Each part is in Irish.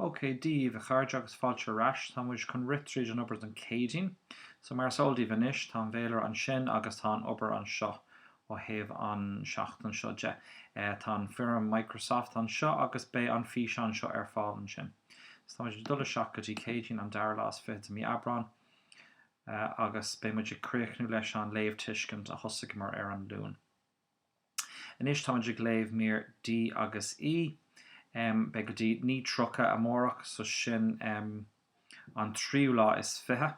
OK, Dia daoibh, a chairde, agus fáilte ar ais. Tá muid chun rith tríd an obair don Céadaoin. So, mar is eol daoibh anois, tá an féilire ansin agus tá an obair anseo ó thaobh an seachtain seo de. Tá an foirm Microsoft anseo agus beidh an físeán seo ar fáil ansin. So, tá muid ag dul isteach go dtí Céadaoin, an dara lá is fiche de mí Aibreán, agus beidh muid ag críochnú leis an léamhthuiscint a thosaigheamar ar an Luan. Anois táimid ag léamh mír D agus E. Beidh go dtí 9:30 amárach, so sin an tríú lá is fiche,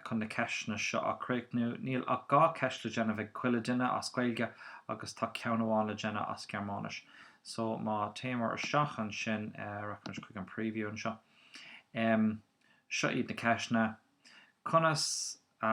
chun na ceisteanna seo a chríochnú. Níl ach dhá cheist le déanamh ag chuile duine as Gaeilge agus tá ceann amháin le déanamh as Gearmáinis. So má théimid isteach ansin, rachaimid chuig an preview anseo. Seo iad na ceisteanna. Conas a.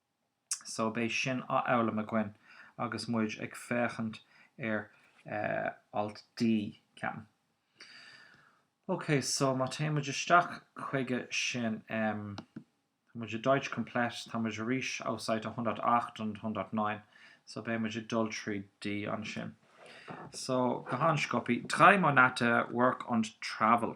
so beidh sin á fhoghlaim againn agus muid ag féachaint ar alt D, ceapaim. Ok, so má théann muid isteach chuige sin, tá muid i Deutsch Komplett, tá muid arís auf Seite 108 und 109, so beidh muid ag dul trí D ansin. So, go han-sciopaí, drei Monate Work and Travel.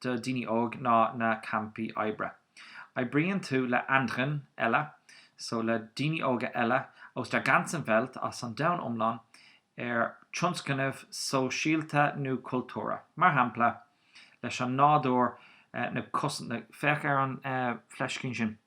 do dhaoine óg ná na campaí oibre. Oibríonn tú le anderen eile, so le daoine óga eile aus der ganzen Welt, as an domhan iomlán, ar tionscnamh sóisialta nó cultúrtha. Mar shampla, leis an nádúr, na cos, na, féach ar an fleiscín sin.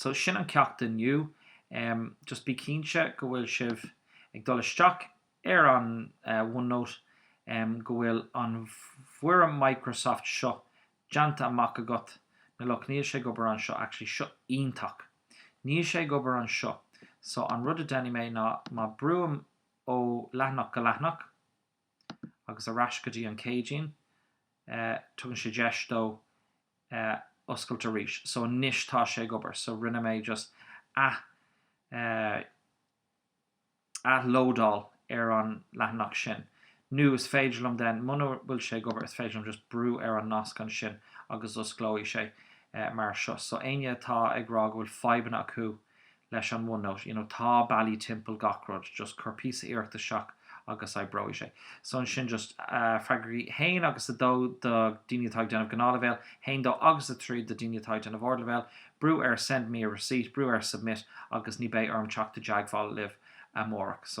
So sin an ceacht inniu. Just bí cinnte go bhfuil sibh ag dul isteach ar an OneNote go bhfuil an fhoirm Microsoft seo déanta amach agat. Now look níl sé ag obair anseo actually seo iontach. Níl sé ag obair anseo so an rud a déanfaidh mé ná má brúim ó leathanach go leathanach, agus ar ais go dtí an Céadaoin tugann sé deis dó oscailt arís. So anois tá sé ag obair. So rinne mé just athlódáil ar an leathanach sin. Nó is féidir liom then, muna bhfuil sé ag obair, is féidir liom just brú ar an nasc ansin agus osclóidh sé mar seo. So éinne atá ag rá go bhfuil fadhbanna acu leis an OneNote, you know tá bealaí timpeall gach rud, just cuir píosa iarracht isteach agus oibreoidh sé. So ansin just freagair 1 agus 2 do daoine atá ag déanamh gnáthleibhéal 1, 2 agus 3 do daoine atá ag déanamh ardleibhéal, brú ar 'send me a receipt', brú ar 'submit' agus ní beidh orm teacht i dteagmháil libh amárach. So.